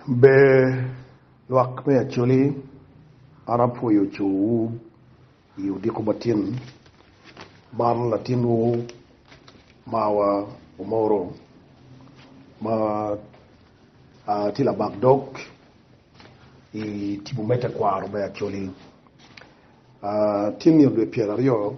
Ber lwak me Acholi, an apwoyo cowu i odiko matin man latinwu marwa Omoro ma tye labak dog i tipo me tekwaro me Acholi. Tin nio dwe pyeraryo.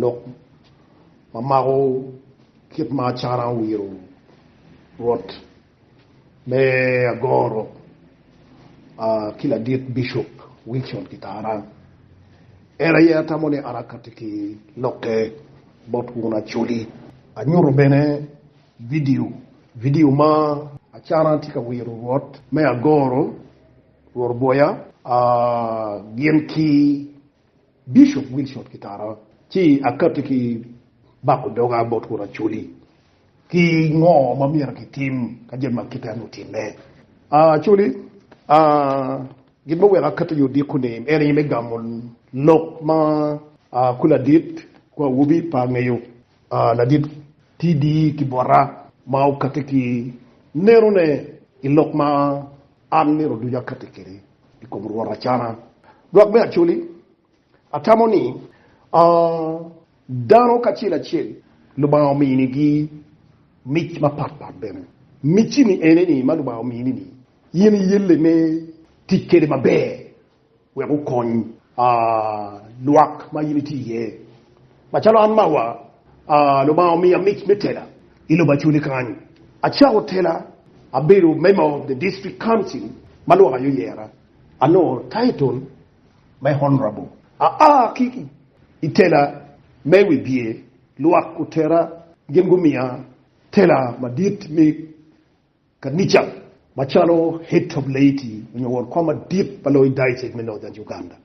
Lok ma mako kit ma acara owiro Rwot me agoro ki ladit Bicop Wilson Kitarang, en aye atamo ni arakati ki lokke bot wun Acholi. Anyuto bene vidio vidio ma acara tye ka wiro Rwot me agoro Rwor Boya gin ki Bishop Wilson Kitara, ci akati ki bako doga bot kur Acholi ki ngo ma myero ki tim ka jami ma kite-ni otimme. Acholi, gin ma weko akati yo diko ni en aye me gamo lok ma kula dit ku awobi pe angeyo. Ladit TD ki bota ma okatti ki nenone i lok ma an nino ducu akatti kwede i kom Rwot acana. Lwak me Acoli, Atamo ni dano kacel acel Lubanga ominigi mic mapat pat bene. Micci-ni ene ni ma Lubanga omini-ni, in iyelle me tic kwede maber wek okony lwak ma in itye iye. Macalo an mawa, Lubanga omiya mic me tela i lobo Acholi kany. Acako tela, abedo member of the district council ma lwak aye oyera. Anongo title me Honourable. Aa ki i tela me wibye, lwak otera gin gumiya tela madit me. Kanica macalo Head of Laity onyo won kwan madit pa loyo Diocese me Northern Uganda.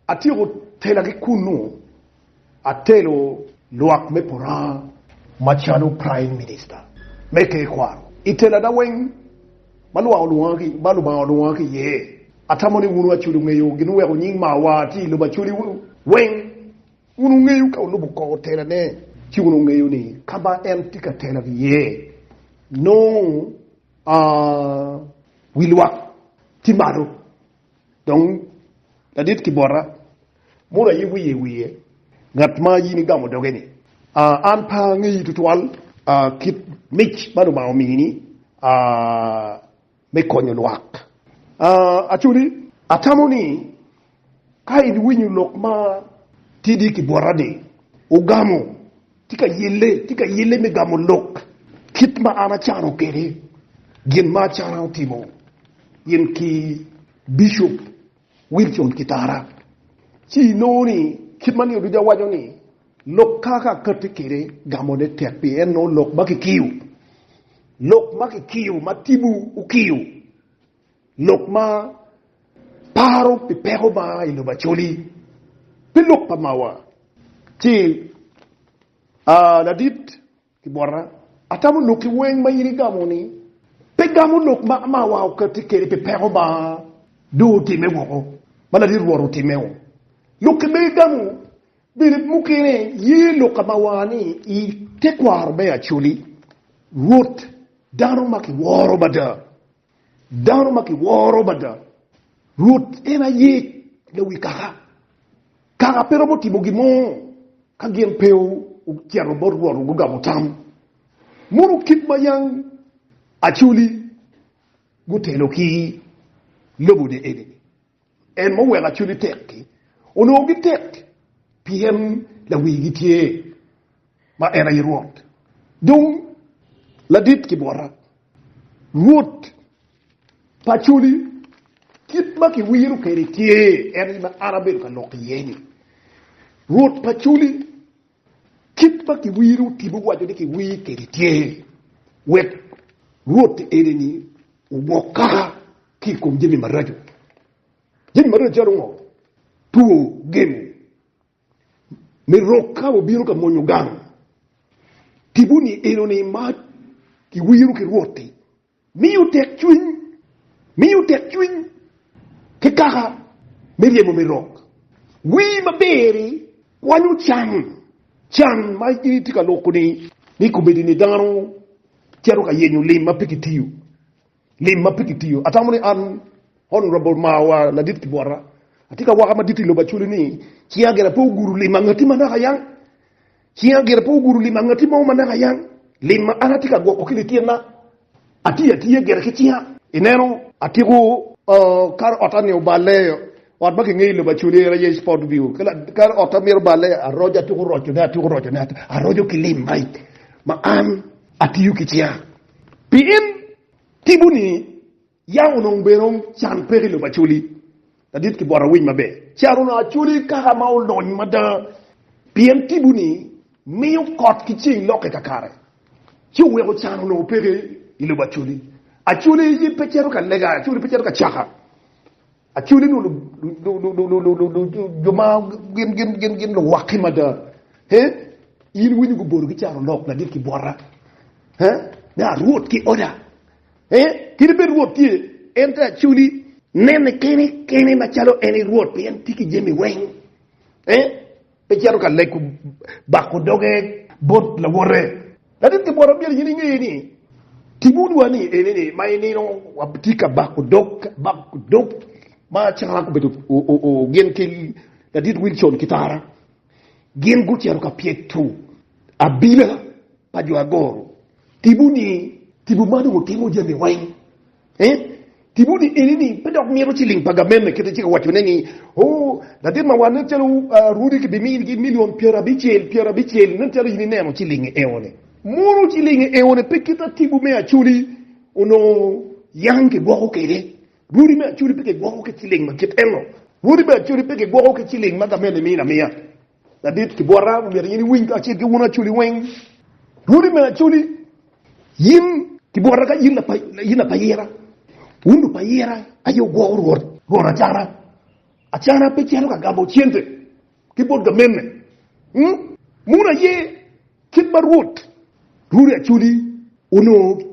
Atyeko tela ki kunnu, atelo lwak me Puranga macalo Prime Minister me Tekwaro. I telana weng ma Lubanga olwonga ki iye, atamo ni wunu Acholi ongeyo gin weko nying Mawa tye i lobo Acholi weng. Wun wungeyo ka wulubo koko telane, ci wun wungeyo ni ka ma en tye ka telo iye, nongo wi lwak tye malo, dong ladit ki bota mono aye wiye i wiye, ngat ma in igamo doge-ni. An pe angeyi tutwal kit mic ma Lubanga omini. me konyo lwak. Actually, atamo ni ka in iwinyo lok ma tidi ki bwota ni ogamo tye ka yelle, tye ka yelle me gamo lok kit ma an acano kwede gin ma acano timo in ki Bishop. Wilson Kitara, ci inongo ni kit ma nio duca waco ni lok kaka akati kwede gamone tek pien nongo lok ma kikiyo, lok ma kikiyo ma tipo okiyo, lok ma paro pi peko ma aa i lobo Acholi, pi lok pa mawa, ci aa ladit. I bota, atamo lok ki weng ma in igamo ni. Pe gamo lok ma amawa okatti kede pi peko ma dong otime woko ma ladit Rwot otimeo. Lok ki ma igamo bene mukene ye lok amawa ni i tekwaro me Acoli, Rwot, dano ma kiworo mada. Dano ma kiworo mada. Rwot en aye lawi kaka. Kaka pe romo timo gin mo ka gin pe ocito bot Rwot gugamo tam. Mono kit ma yang acoli gutelo ki lobone eni-ni? En ma oweko acoli tek-ki onongo gitek, pien lawigi tye, ma en aye Rwot. Dung ladit ki bwota, Rwot pa acoli, kit ma kiwiro kwede tye en aye ma an abedo ka lok iye-ni, Rwot pa acoli. Kit ma kiwiro tipo waco ni kiwir kwede tye wek Rwot enini owok kaka ki i kom jami maraco. Jami maraco calo ngo? Two, gemo me rok ka wabino ka mwonyo gang. Tipo-ni enoni ma kiwiro ki Rwot-ti Miyo tekcwiny, Miyo tekcwiny ki kaka me ryemo me rok. Wii maber-ri kwanyo can, can ma itye ka loko ni ni komedini dano cito ka yenyo lim ma pe kitiyo, lim ma pe kitiyo. Atamo ni an Honourable Mawa Ladit Kibwata atye ka waka madit i lobo Acholi ni cinga gire pe ogudo lim angati manaka yang Cing agira pe ogudo limo angati mo ma naka yang. Lim ma an atye ka gwoko ki lityenna, atiyo atiya gire ki cinga. Ineno, atyeko kare otta ni oballe, ot ma kingeyo i lobo Acholi aye aye Spotview. Kare otta myero oballe, aroco, atyeko rocone, atyeko rocone, aroco ki lim ma ma an atiyo ki cinga. Pien tipo-ni Yam onongo bene can peko i lobo Acoli, ladit ki bot awic maber. Caro Acoli kaka ma olony mada, pien tipo-ni miyo kot ki ceng lokke kakare, ci oweko can onongo peke i lobo Acoli. Acoli pe cito ka lega, Acoli pe cito ka caka. Acoli nongo jo ma gin luwakke mada. In winyo gubolo ki caro lok ladit ki bota, me arwot ki oda. Ee, kadi bed Rwot tye, en te acoli. Nene kene kene macalo en i Rwot, pien tye ki jami weng. Ee, pe cito ka lego bako doge bot lawote. Latit ki bwota myero gin inge ni, timoniwa ni enini ma i nino watye ka bako dog bako dog ma calo an kobedo gin ki Ladit Wilson ki Tara. Gin gucito ka pyec tung abila pa jo agoro. Tipo ni, Tipo ma dong otimo jami weng eh. Tipo ni eni ni pe dok mito ciling pa gamente kite ci ka waco ne ni oh latin ma wan nen calo Rudy ki bi mini gi million pyera abicel pyera abicel nen calo in ineno cilingi eo ni. Mono cilingi eo ni pe kit atibu me Acholi onongo yang ki gwoko kede. Wodi me acoli pe kigwoko ki ciling ma kit eno. Wodi me acoli pe kigwoko ki ciling ma gamente mino amiya. Ladit ki bwota omyero in iwiny kacel ki wun acoli weng. Wodi me acoli, in ki bwota ka in lapayira, wun lupayira aye wugwoko rwot, rwot acana. Acana pe cito ka gamo cente ki bot gamenne. Muno aye kit ma rwot, wodi acoli onongo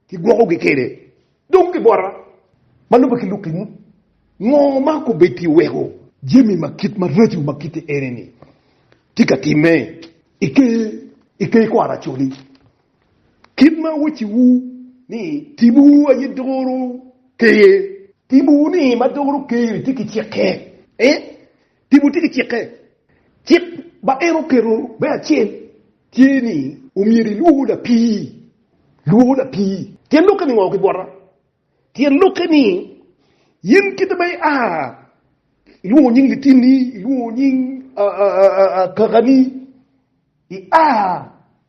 kigwokogi kwede. Dong gibota ma lubbe ki lukingi, ngo ma okobedi weko jami ma kit maraco ma kite ene-ni tye ka timme i ker kor acoli? Kit ma awacciwu ni timwu aye doro ker, timwu ni ma doro ker-ri tye ki cikke. Tipo tye ki cikke. Cik ma en oketo me acel tye ni omyero ilwor lapii. Lwor lapii. Tyen lokke ni ngo ki bwota? Tyen lokke ni in kite ma ia ilwongo nying litinni, ilwongo nying kakani, ia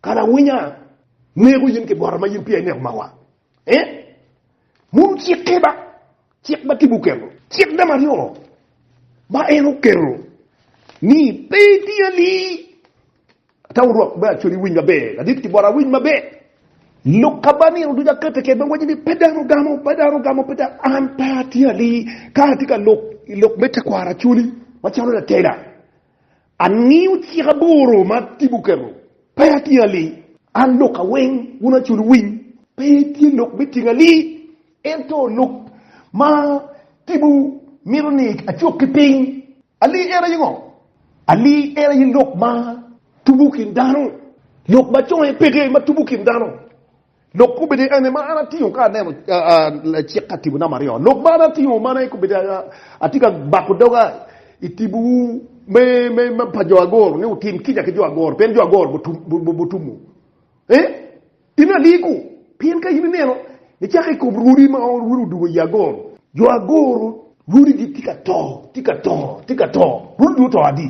Ka lawinya neko yin ki bota ma yin peya ineko mawa, eh? Munu cikke ba, cik ma Tipo oketo. Cik namba aryo ma en oketo ni pe iti ali. Ata wurok me acoli winy maber adit ki bota winy maber. Lok ka ba nino ducu akete kede me waco ni pe dano ogamo, pe dano ogamo, pe dano, an pe ati ali. Ka ati ka lok, lok me tekwaro acoli, macalo latela, Angiyo cik aboro ma Tipo oketo, pe atingo ali. An lok aweng wun acul winy, pe tye lok me tingo ali. Ento lok ma Tipo mito ni acuk ki piny, ali en aye ngo? Ali en aye lok ma tubo kin dano, lok ma conge peke ma tubo kin dano. Lok kobedi ene ma an atingo ka aneno lacik ka tipo namba aryo. Lok ma an atingo man aye kobedi atye ka bako doga i tibowu me, me, me pa jo agoro ni wutim kica ki jo agoro, pien jo agoro butumu. E, in aliko, pien ka in ineno, icako ikob rwodi ma rwodi odugo i agoro. Jo agoro rwodigi tye ka to, tye ka to, tye ka to. Rwodi dong oto adi?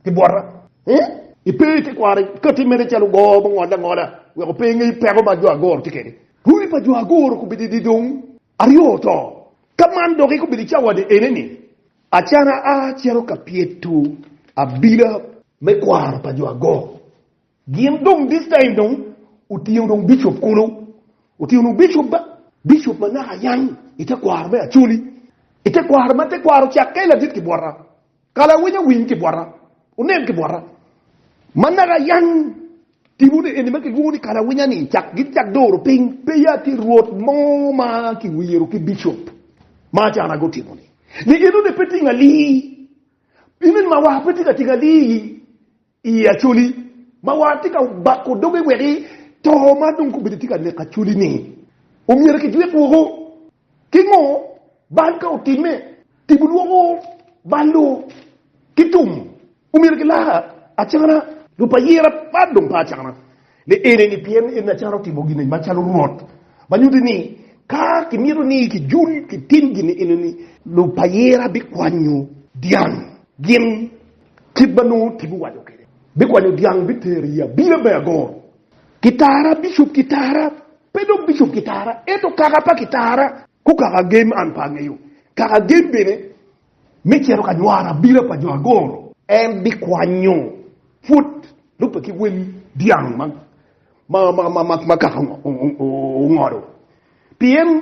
ki bwota. Ee, ipe i te kwaro kati mene calo go ma ongole angola wek ope ingey peko ma jo agoro tye kede. Runi pa jo agoro kobedo i di dong aryo oto. Ka man doki kobedo i cawani ene ni, acana a cito ka pyeto abila me kwaro pa jo agoro. Gin dong this time dong otingo dong bishop kulu, otingo dong bishop ba, bishop ma naka yang i te kwaro me Acholi, i te kwaro ma te kwaro cakke ladit ki bwota. Kala winy owiny ki bwota, onen ki bwota. Ma naka yany tipo ni eni ma kilwongo ni kala winya ni cak gin cak doro piny. Pe ya tye rwot mo ma ki wiro ki bicop ma acana go timo ni ni eno ni pe tinga lii, eno ni ma wa pe tinga tinga lii. Iye Acholi, ma war tye ka bako doge wek i to ma dong kobedi tye ka neko acholi-ni omyero kijwik woko. Kingo bal ka otimme? Tipo lwoko bal-lu ki tum omyero gilar acana. Rub pa yer apar dong pa acana. Ni ene ni pien en acalo otimo gin eni macalo Rwot, ma nyuto ni ka kimito ni kijul kitim gin eni ni, lupayira bikwanyo dyang gin kit ma nongo Tim owaco kwede. Bikwanyo dyang bitero i abila me agor. Kitara, Bicop Kitara, pe dong Bicop Kitara, ento kaka pa Kitara, Kukaka Gem an pe angeyo. Kaka Gem bene me cito ka nywaro abila pa jo agoro. En bikwanyo pwod lubbe ki wel dyang ma kaka ongodo. Pien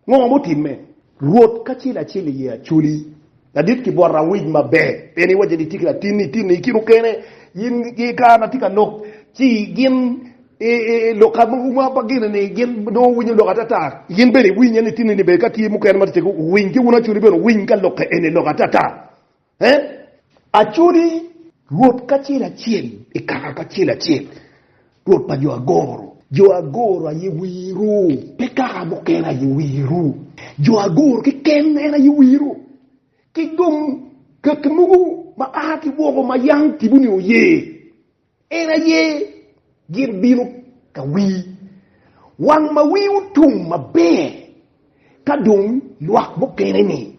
ngo mutimme? Rwot kacel acel iye acoli, ladit ki bot awic maber. Pien iwacce ni, 'Ityeki latinni, itinni i kinu kene, in i kare ma atye ka lok, ci gin I lok ka ma pa gin ni gin nongo guwinyo lok atata, in bene iwinye nitini ni bene ka tye mukene ma tetegi owiny ki wun acudi bene owiny ka lok ka eni lok atata. Ee, acudi Rwot kacel acel i kare pa acel acel, Rwot pa jo agoro. Jo agoro aye wiru, pe kaka mukene aye wiru. Jo agoro keken en aye wiru. Ki dong kaki mogo ma a ki woko ma yam tibu-ni oye, En aye gin bino ka wii wang ma wii otum maber ka dong lwak mukene ni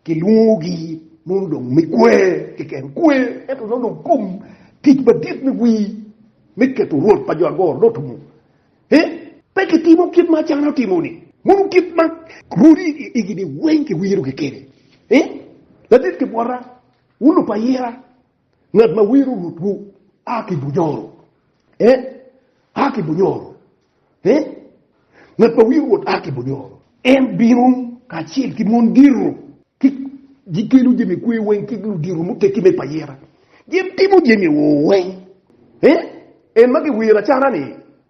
kilwongo gi mono dong me kwer keken kwer ento nongo dong kom tic madit me wii me keto rwot pa jo agoro dong otumo eh pe kitimo kit ma Acana otimo ni mono kit ma rwodi igi ni weng kiwiro gi kede eh ladit kibwota wun lupa ayira. Ngat ma wiro rutwu a ki bunyoro, eh, a ki bunyoro, eh, ngat ma wiro Rwot a ki bunyoro. En bino kacel ki mon diro, ki gikelo jami kwer weng ki ludiro muteggi me payira, gitimo jami weng, eh, en ma giwiro acara-ni.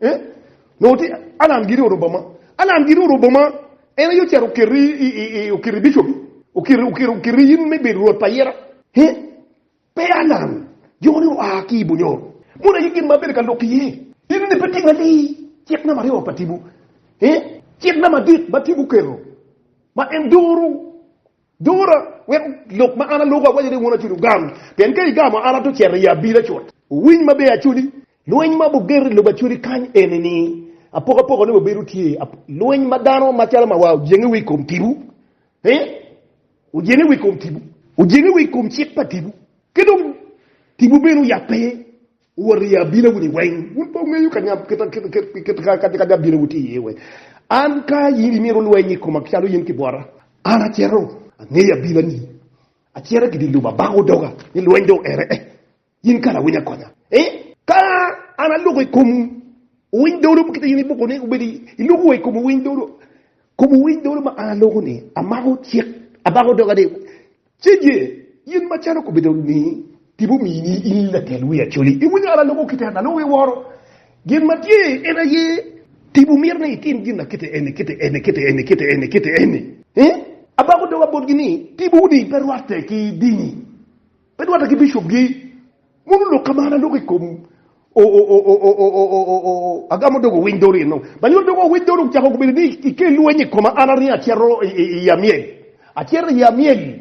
Eh? No ti Alan giri oro boma. Alan giri oro boma. En aye ocito okiri i, i, i okiri bicobi. Okiri, okiri, okiri in me bedo rwot pa ayera. He? Pe Alan. Jo ni oa ki i Bunyoro. Mono aye gin ma abedo ka lok iye. In ni pe tinga ni cik namba aryo pa tibu. He? Cik namba adek ma tibu oketo. Ma en doro. Dura wek lok ma an aloko awaco ni wun aculi wugam, pien ka igamo an ato cito i abila cut. Wuwiny maber aculi, lweny ma wugeto i lobo aculi kany eni-ni, apoko apoko ni wabedo tye lweny ma dano macalo ma wa ojenge wiye i kom tipo, ee, ojenge wiye i kom tipo, ojenge wiye i kom cik pa tipo, ki dong tipo bene oyabbe. Wot i abinawuni weng, wun pe wungeyo kadi abinawu tye iye weng. An ka in imito lweny i koma calo in kibwota, an acito angeyo abinani, acito ki dye lum abako doga ni lweny dong oere eh, in kara winy akonya eh. Ka an aloko i komu winy dolo kit ma in iboko ni obed, iloko wa i komu winy dolo, komu winy dolo ma an aloko ni, amako cik, abako doga ni. Ci ye in macalo kobedo ni tipo omini in latel wi Acholi, iwinyo an aloko kite, an aloko iworo. Gin ma tye en aye, tipo myero ni itim gin akite eni, kite eni, kite eni, kite eni, kite eni. Abako doga botgi ni, Tipo-wu-ni pe rwatte ki dini, pe rwatte ki bicopgi. Mon olok ka mara lok i kom Agamo dog owiny dori eno. Banyuwa dog owiny dori ocako gubedo ni ike lweny i koma an aringo acito i amyel. Acito i amyel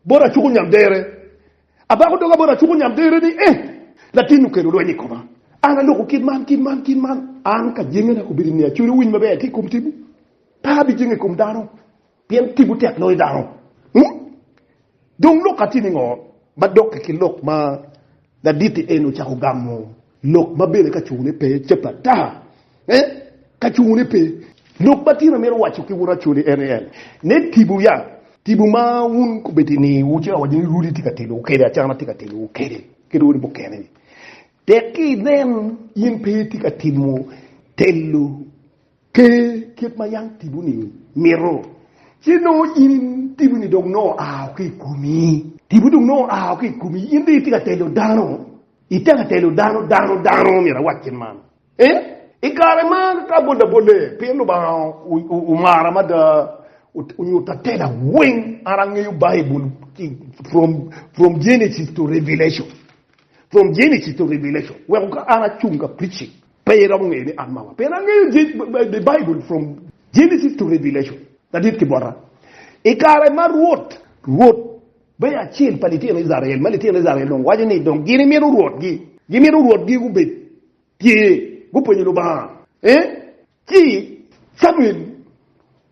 bot acuko nyamdere. Abako doga bot acuko nyamdere ni eh latin okelo lweny i koma. An aloko kit man kit man kit man. An ka jenge na kobedo ni acwero winy maber ki i kom tipo pe abijenge i kom dano. Pien timwu tek loyo dano. Ung? Dong lok atye ni ngo ma dokke ki lok ma laditi eni ocako gamo lok ma bene ka cungu ne pe cape ata? Eh, ka cungu ne pe. Lok ma tin amito waco ki wun acoli en ni en, ne tibu ya, tibu ma wun kobedo i niwu ci awaco ni rudi tye ka telowu kede, acana tye ka telowu kede, kede wun mukene ni, tek ki inen in pe itye ka timo telo. Ker kit ma yam tipo-ni mito, ci nongo in tipo-ni dong nongo ao ki i komi. Tipo dong nongo ao ki i komi, in dong itye ka telo dano, itye ka telo dano, dano, dano, myero awac kit man. Ee, i kare ma ka abol abole pien Lubanga omara mada, onyuto atela weng, an angeyo Baibul from, from Genesis to Revelation, from Genesis to Revelation, weko ka an acung ka preaching. Pe iromo ngeyo ni an mama pien angeyo the bible from Genesis to Revelation ladit ki bota. I kare ma Rwot, Rwot me acel pa litino Icrael, ma litino Icrael dong waco ni dong gin imito rwotgi, gimito rwotgi gubed tye, gupenyo Lubanga, eh, ci Camuel.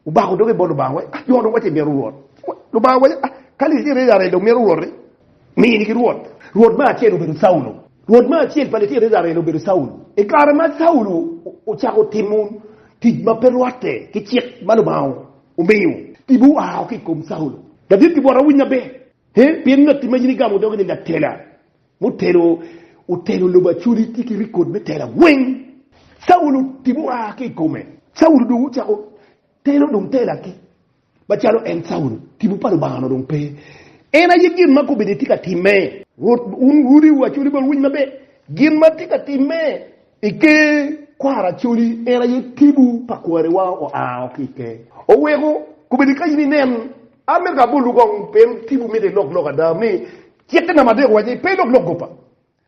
Obako doge bot Lubanga waco, Jo dong wacci imito Rwot. Lubanga owaco, Ka lic tye Icrael dong mito Rwot-ri, mini ki rwot. Rwot me acel obedo Caulo. Rwot me acel pa litino Icrael obedo Caulo. I kare ma Caulo ocako timo tic ma pe rwatte ki cik ma Lubanga omiyo, tipo oa ki i kom Caulo. David gibwota, Winnya be, pien ngatti ma in igamo dogi-ni latela. Mutelo otelo lobo Acoli tye ki rikod me tela weng. Caulo tipo oa ki i kome. Caulo dong ocako telo dong tela ki. Macalo en Caulo, tipo pa Lubanga onongo dong pe. En aye gin ma kobedo etye ka timme. Rwot, wun rudiwu Acoli bene wuwiny maber gin ma tye ka timme i ker kwaro Acoli. En aye tipo pa kwariwa oa o ki i ker. Oweko kobedo ka in inen, a mito ka abolu kong pien tipo mito ilok lok ada ni Cikke namba adek owaco ni, Pe ilok lok gopa.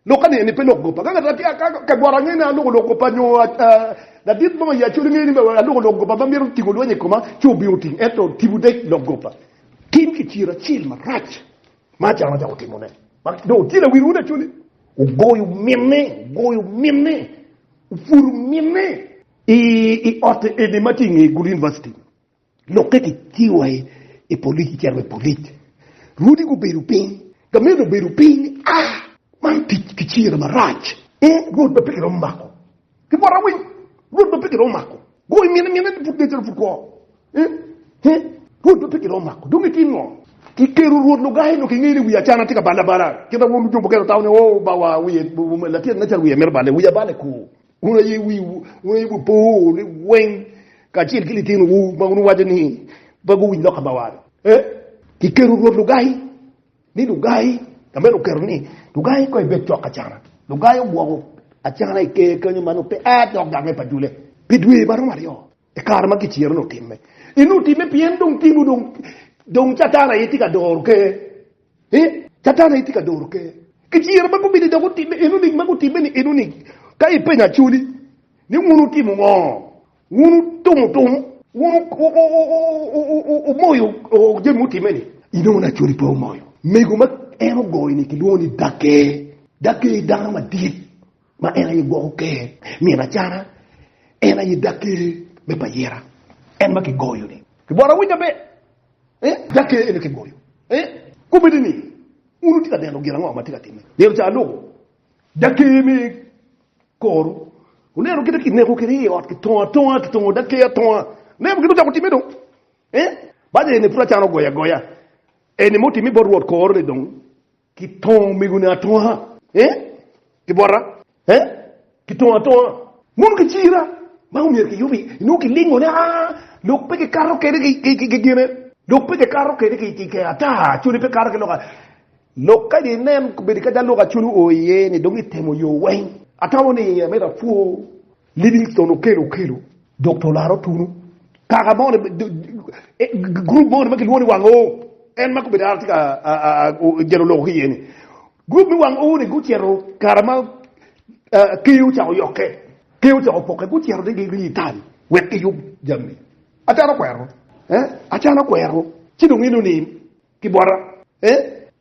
Lok ane ni pe ilok gopa. Ka ngat ka bworo angeyo ni aloko lok gopa nyo ladit mo i Acholi ngeyo ni aloko lok gopa ma mito tingo lweny i koma, ci obino ting. Ento tipo dec lok gopa. Tim kiciro acel marac ma Acam acako timone ma dong otye lawil wun Acholi. Ogoyo minne, ogoyo minne, opwodo minne. I otte eni ma tye i nge Gulu University. Lok ka kicibo wa i polic kicito wa i polic rwodi gubedo piny, gamente obedo piny a man tic ki cira marac ee rwod ma pe kiromo mako ki bwota weng rwod ma pe kiromo mako go i mine mine ni pud kecito pud kwo ee ee rwod ma pe kiromo mako dong itim ngo? Kiketo rwod lugai nongo kingeyo ni wiye acana tye ka bale abala kit ma rwod luco mukene tamo ni oo bawa wiye latin ne calo wiye mito bale wiya bale kuu Wun aye wiwu, wun aye wupor ni weng kacel ki litinowu ma wun wuwaco ni pe guwinj lok ka ma wano. Ee, kiketo rwod lugai ni lugai, ka meno oketo ni lugai kong ebed cok acana. Lugai ogwoko acana i ker kenyo ma nongo pe a dok gamme pa dulle pi dwe ma romo aryo i kare ma giciro ni otimme. Inongo otimme pien dong timwu dong, dong Catan aye tye ka doro ker. Ee, Catan aye tye ka doro ker ki ciro ma gubino dok gutimme eno nic ma gutimme ni eno nic. Ka ipenyo Acholi ni wun wutimo ngo? Wun wutumo tum? Wun wumoyo jami mutimme ni? Inongo ni Acholi pe omoyo mego ma en ogoyo ni kilwongo ni Dake. Dake aye dano madit ma en aye gwoko ker nino acana. En aye Dake me payira, en ma kigoyo ni. Kibworo awinya be? Dok kene en aye kigoyo. Kombeddi ni, Wun wutye ka neno gin ango ma atye ka timme? Nino ca alubo dok ker me kor-ru. Wuneno kit ma kineko kwede i ot, kitongo atonga, kitongo dok ker atonga. Wuneno kit ma ocako timme dong? Banya eni pud acano goye agoya. Eni ma otimme bot Rwot kor-ru ni dong Kitongo omego-ni atonga, ee, ki bota, ee, kitongo atonga. Mono kicira ma omyero kiyub iye, inongo kilingone, aa, lok pe kikato kwede ki gine, lok pe kikato kwede ki kee ata, cwali pe kato ki lok ata. Lok kadi inen, kobedi kadi alwok-acwali oo iye-ni, dong itemo yo weng. Atamo ni amito apwo Livingston okelo okelo dok to olaro tunu kaka mo group mo ma kilwongo ni wang oo en ma gubedo ara tye ka jalo loko ki iye ni group me wang oo ni gucito kara ma keyo ocako yokke keyo ocako poke gucito ni giri i tal wek giyub jami acalo kwero acalo kwero ci dong eno ni kibota.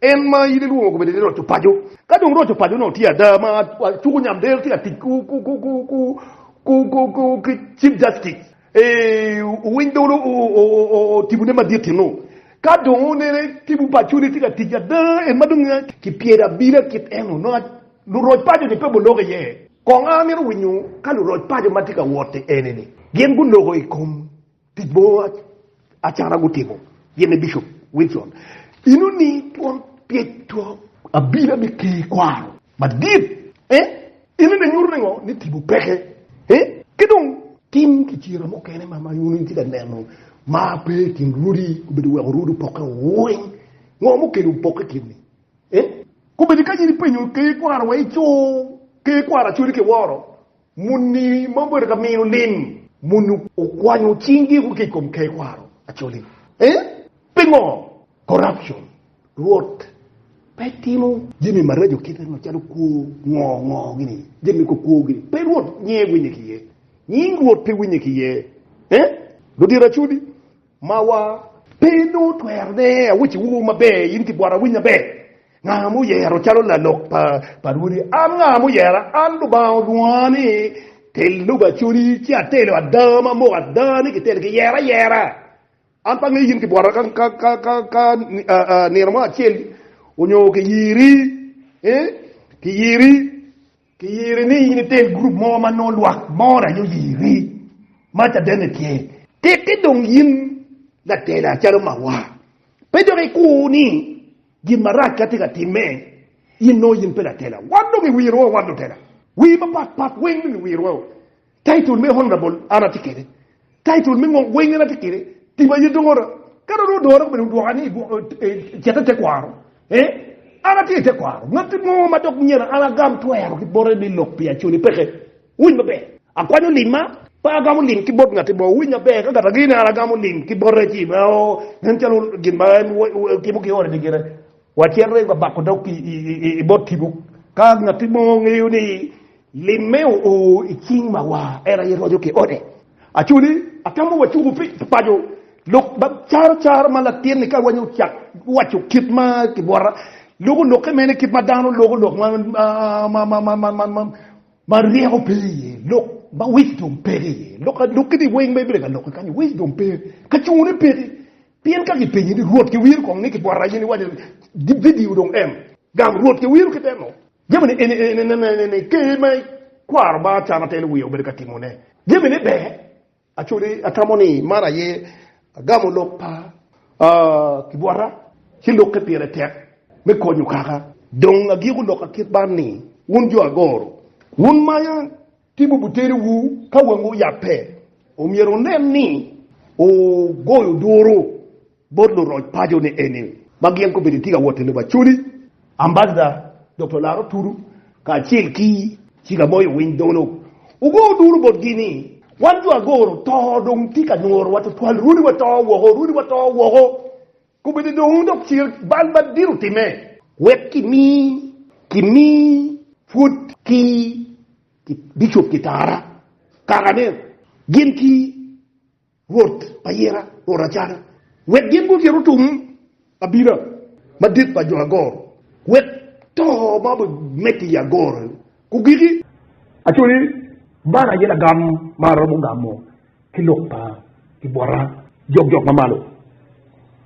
En ma in ilwongo kombeddi ni roco paco, ka dong roco paco nongo tye ada ma acuku Nyamder tye ka tic ki Chief Justice owiny dolo tipo ne madit eno, ka dong onene tipo paco ne tye ka tic ada en ma dong ki pyero abida kit eno nongo luroc paco ni pe guloko iye. Kong amito winyo ka luroc paco ma tye ka wot-ti eni ni gin guloko ikom Tic mo acana gutimo gin ni Bishop Wilson ino ni twon pyec two abila me Ker kwaro madit eh ino ni nyuto ningo ni tipo peke eh ki dong tim ki cira mukene ma ma yuno itye ka neno ma pe kin rudi obedo weko rudi opoke weng ngo mukene opoke kin ni eh kobedo ka in ipenyo Ker kwaro wa ico Ker kwaro acoli ki woro Muni ma obedo ka mino lim muni okwanyo cingi ki i kom tekwaro Acholi. Eh? Pingo? Corruption. Rwot pe timo jami maraco kite macalo kwo ngo ngo gini, jami kwo kwo gini. Pe Rwot nyinge winye ki iye. Nying Rwot pe winye ki iye. Eh? Ludito Acholi. Mawa pe nongo twero ne awic wu maber in ki bwot awiny maber nga ma oyero calo lalok pa rwodi an nga ma oyera an lubanga orwonga ni tel lobo acoli ci atelo ada ma moko ada ni ki telo ki yero ayera an pe angeyo in ki bwota ka nino mo acel onyo ki yiri ki yiri Kiyiri ni in itel gurup mo ma nongo lwak more aye oyiri, ma cadenne tye. Tiki dong yin latela calo mawa, pe dok ikur ni gin marac ka tye ka timme, in nongo in pe latela. Wan dong iwirowa wan lutela. Wii mapatpat weng dong iwirowa-u. Title me honorable an atye kwede, title me ngok weng en atye kwede, tim aye dong ora. Ka dong odore bene odwoka ni cet i tekwaro, eeh, an atye i tekwaro. Ngat mo ma dok myero an agam twero ki bote me lok pi Acholi peke. Wuwiny maber, akwanyo limma, pe agamo lim ki bot ngat mo. Wuwiny maber, ka kata gin ni an agamo lim ki bote ci, eeh, nen calo gin ma en timo ki ode-ni gire. Watyen rego abako dog i bot tipo. Ka ngatti mo ngeyo ni limme oo i cing mawa, en aye roco ki ode. Aco ni, atamo wacuku pi paco lok caro caro ma latinni ka wanyo ocak waco kit ma kibwota loko lokke mene kit ma dano loko lok ma ryeko pe iye, lok ma wisdom peke iye. Lok-ki ni weng ma ibedo ka loko kany wisdom pe, kacungune peke. Pien ka kipenyi ni, 'Rwot, kiwir kong ni kibwota aye ni wacce gibidiyo dong en? Gam, Rwot, kiwir ki deno. Jamini eni aye inene-ni, ker ma ikwaro ba acama telo wiye obedo ka timone jamine ber. Acode, atamo ni man aye agamo lok pa kibwota ci lokke pire tek me konyo kaka. Dong agiko loka kit man ni, wun jo agoro, wun maya. Timo butedowu ka wangu oyabbe omyero wunen ni wugoyo duru bot luroc paco ni eni ma gin kobedo itye ka wot i lobo Acholi. Ambassador Doktor Laro Tudu kacel ki Cika Moyo Winy Dolo ogoyo duru botgi ni wan jo Agoro to dong tye ka nyorowa tutwal runi wato woko, runi wato woko. Kobedo dong wun dok cal bal madit otimme. Wek kimi, kimi, pwod ki, ki bicop kitara, kara ne, gin ki rwot pa yera, rwot Acana, wek gin gucit otum abina madit pa jo agoro, wek to ma obimedde i agoro gugiki. Aco ni, Man aye lagam ma aromo gamo ki lok pa kibwota jokjok mamalo.